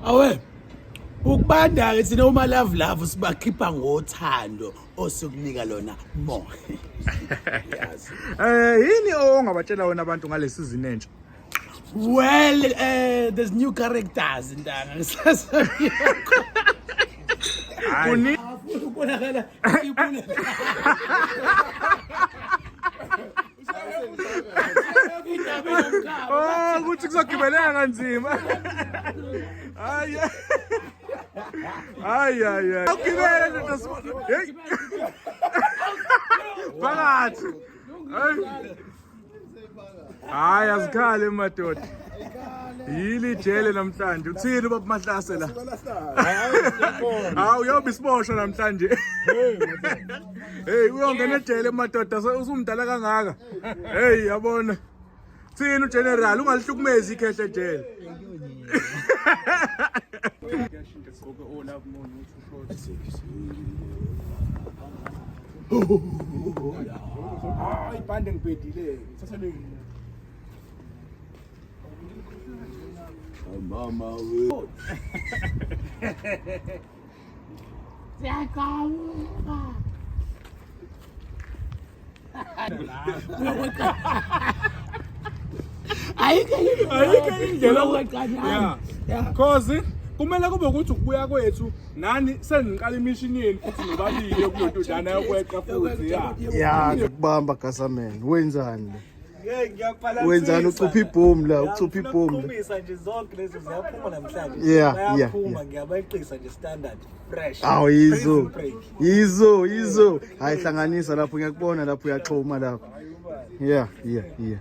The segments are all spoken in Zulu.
awe ukubanda-ke thina uma love love sibakhipha ngothando osikunika lona more Yazi. Eh yini ongabatshela wena abantu ngale season entsha? well uh, there's new characters ntanga Kuni kubonakala ibulala Oh, ukuthi kuzogibeleka kanzima. Hayi. Hayi hayi hayi. Ugibele nje ndasibona. Hey. Phakathi. Hayi. Hayi azikhale madoda. Yili jele namhlanje. Uthini ubaba Mahlase la? Hayi, uyobe isiboshwa namhlanje. Hey uyongena ejele madoda usumdala kangaka. Hey yabona. Thina uGeneral ungalihlukumezi ikhehle ejele. Hayi bande ngibhedile. Thatha le. Mama we. ayikho indlela yokuqanyana cause kumele kube ukuthi ukubuya kwethu nani seniqala imishini yenu futhi nobabili yokulododana yokweqa futhi ya ya kubamba gasameni wenzani wenzani ucupha ibhomu la ucupha ibhomu nje zonke lezi ziyaphuma namhlanje yeah yeah ngiyabayixisa nje standard fresh awu yizo yizo yizo hayi hlanganisa lapho ngiyakubona lapho uyaxhoma lapho yeah yeah yeah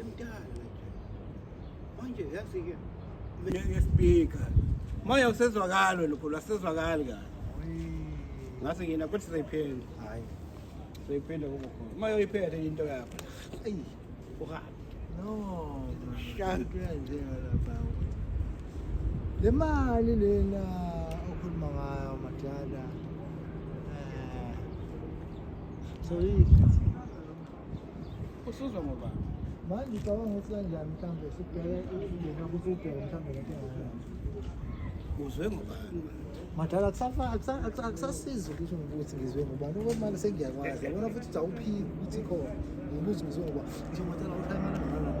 Imdala manje yazi ke ngeke speaker moya usezwakalo lokho lwasezwakali kahle ngase ngina kuthi sizoyiphenda hayi sizoyiphenda kubo khona moya uyiphethe into yakho ayi uhabi no shantu yanjenga lapha le mali lena okhuluma ngayo madala eh so yidla usuzwa ngobani manje ucabanga ukuthi kanjani mhlawumbe sibheke ukungena ukuthi ubheke mhlawumbe lento engakanani uzwe ngobani madala akusasizi ukuthi ngibuthi ngizwe ngubani ngoba manje sengiyakwazi yabona futhi uthi awuphiki ukuthi khona ngibuthi ngizwe ngoba nje madala uhlangana ngalala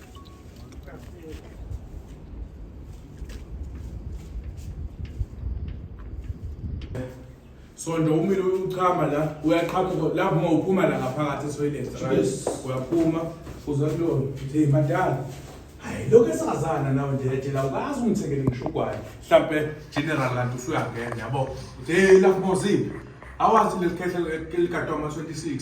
Sonto umile uchama la uyaqhamuka lapho uma uphuma la ngaphakathi esoyileni Yes. uyaphuma uza kulona hey madala hayi lokho esazana nawe nje ejela ukazi ungithengele ngishugwayo mhlampe general kanti usuyangena yabo uthi hey lapho mozile awazi leli khehla likadoma 26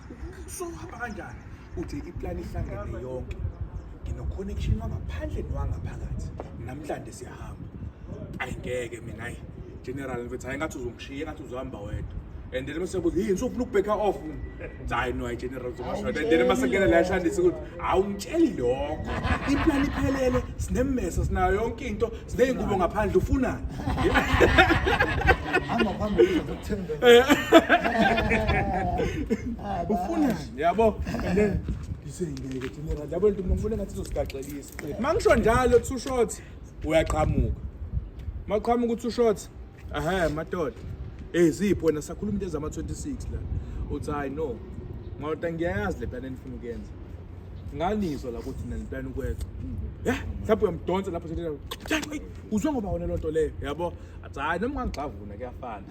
so hamba kanjani uthi iplan ihlangene yonke nginoconnection wangaphandle nowangaphakathi namhlanje siyahamba ayi ngeke mina ayi general mfethu hayi ngathi uzongishiya ngathi uzohamba wedwa and then mase kuthi yini sofuna ukubheka off hayi no ayi general uzongasho and then mase ngena la eshandisa ukuthi awumtsheli lokho iplani iphelele sinemmeso sinayo yonke into sineyingubo ngaphandle ufunani hamba phambili uzokuthemba ufunani yabo and then ngisengeke dinera yabo nto ngifuna ngathi uzosigaxelisa mangisho njalo two shots uyaqhamuka maqhamuka uthi ushort Aha madoda. Eh zipho wena sakhuluma into ezama 26 la. Uthi hayi no. Ngawuthi ngiyayazi le plan enifuna ukuyenza. Nganizwa la ukuthi nina plan ukweqa. Yeah, mhlawumbe uyamdonsa lapho sithina. Uzwe ngoba wona lonto le, yabo? Athi hayi noma ngangigxavuna kuyafana.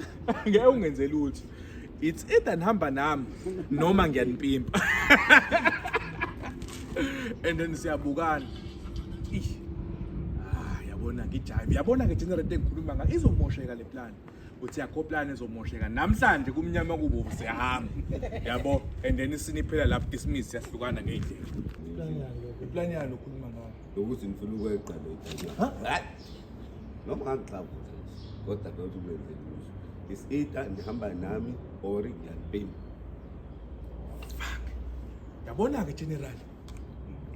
Ngeke ungenzeli uthi. It's either nihamba nami noma ngiyanipimpa. And then siyabukana. Ish. Ah, yabona ngijayive. Yabona ke general into engikhuluma ngayo izomosheka le plan. Uthi yakho plan izomosheka. Namhlanje kumnyama kubo siyahamba. Yabo. And then siniphela lapho dismiss siyahlukana ngeyindlela. Plan yani okhuluma ngayo. Lokuthi ngifuna ukweqa le. Ha? noma ngangixavuza kodwa kodwa umenze kuzo is either ndihamba nami or ngiyalibhema fuck yabona ke general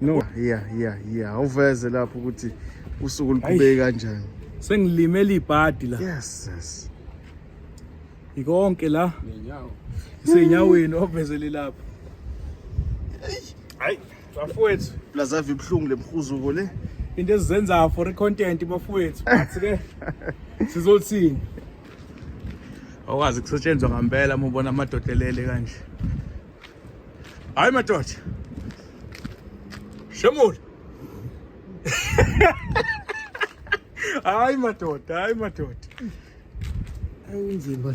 no yeah yeah yeah awuveze lapho ukuthi usuku liqhubeke kanjani sengilimele ibhadi la yes yes ikonke la nenyawo isenyaweni ovezele lapho hayi bafowethu lazava ibuhlungu lemhuzuko le into ezizenzayo for i-content bafowethu but ke sizothini awukwazi kusetshenzwa ngampela uma ubona amadoda elele kanje hayi madoda shemula hayi madoda hayi madoda ayinzima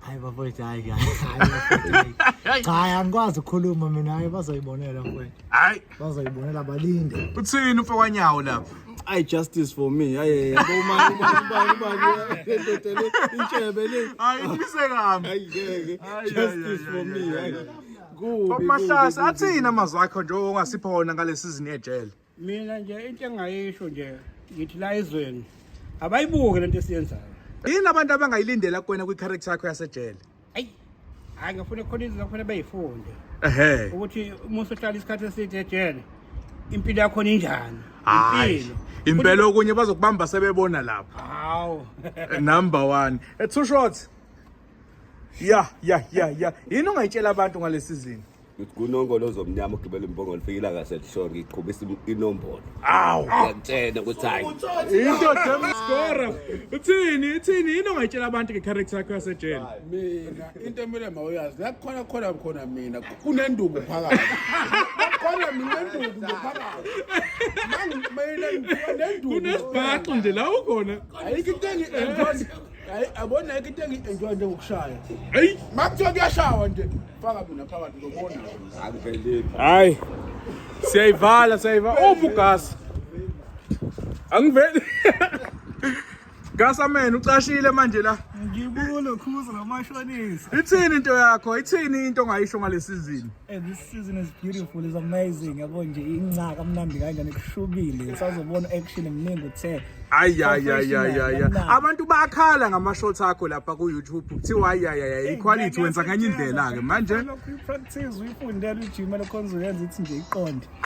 hayi bafowethu hayi hayi hayi bafowethu, hayi. cha hayi angikwazi ukukhuluma mina hayi bazoyibonela mfowethu hayi bazoyibonela balinde uthini umfokwanyawo lapho I justice for me. Ay, ay, ay. Uma uma uma uma ngiyadedele intshebe le. hayi ngise kami Ay, ngeke. Ay, Justice ay, for ay, me. ay, ay. ay. Kubi. kubi, Mahlasa kubi. athini amazwi akho njengoba ungasipha wona ngale season yejele mina nje into engayisho nje ngithi la ezweni abayibuke lento esiyenzayo yini abantu abangayilindela kuwena kwi-character yakho yasejele ayi hayi ngifuna khona izinto kufanele bayifunde ehe ukuthi uma usuhlala isikhathi eside ejele impilo yakho ninjani hayi impela okunye bazokubamba sebebona lapha hawu number 1 eh, two shots ya ya ya ya yini ongayitshela abantu ngalesizini Ngithi kunongolo ozomnyama ugibela imbongolo fika ilanga selishona ngiqhubisa inombolo. Awu. Ngiyakutshena ukuthi hayi. Into dem score. Uthini? Uthini? Yini ongayitshela abantu ngecharacter yakho yasejele? Mina into emele mawuyazi la khona khona khona mina kunenduku phakathi. Khona mina induku nje phakathi. Mangi mina ngibuka nenduku. Kunesibhaxu nje la ukhona. Ayikho into engi enjoy. Hayi abona ayikho into engi enjoy njengokushaya. Hey, Makuthiwa kuyashawa nje. Faka mina phakathi uzobona. Akuveleli. Hayi. Siyayivala siyayivala. Uphi ugasi? Angiveli. Gasa man ucashile manje la. Ngibulo khuza ngamashonisa. Ithini into yakho? Ithini into ongayisho ngalesizini? Eh this season is beautiful, is amazing. Yabo nje incaka mnandi kanjani kushubile. Sazobona action eminingi uthe. ayayayayaya abantu bakhala ngama-short akho lapha ku-youtube kuthiwa ayayaya iquality wenza kanye indlela-ke manje lokhu i-practice uyifundela ujima lokhonza uyenza ithi nje iqonde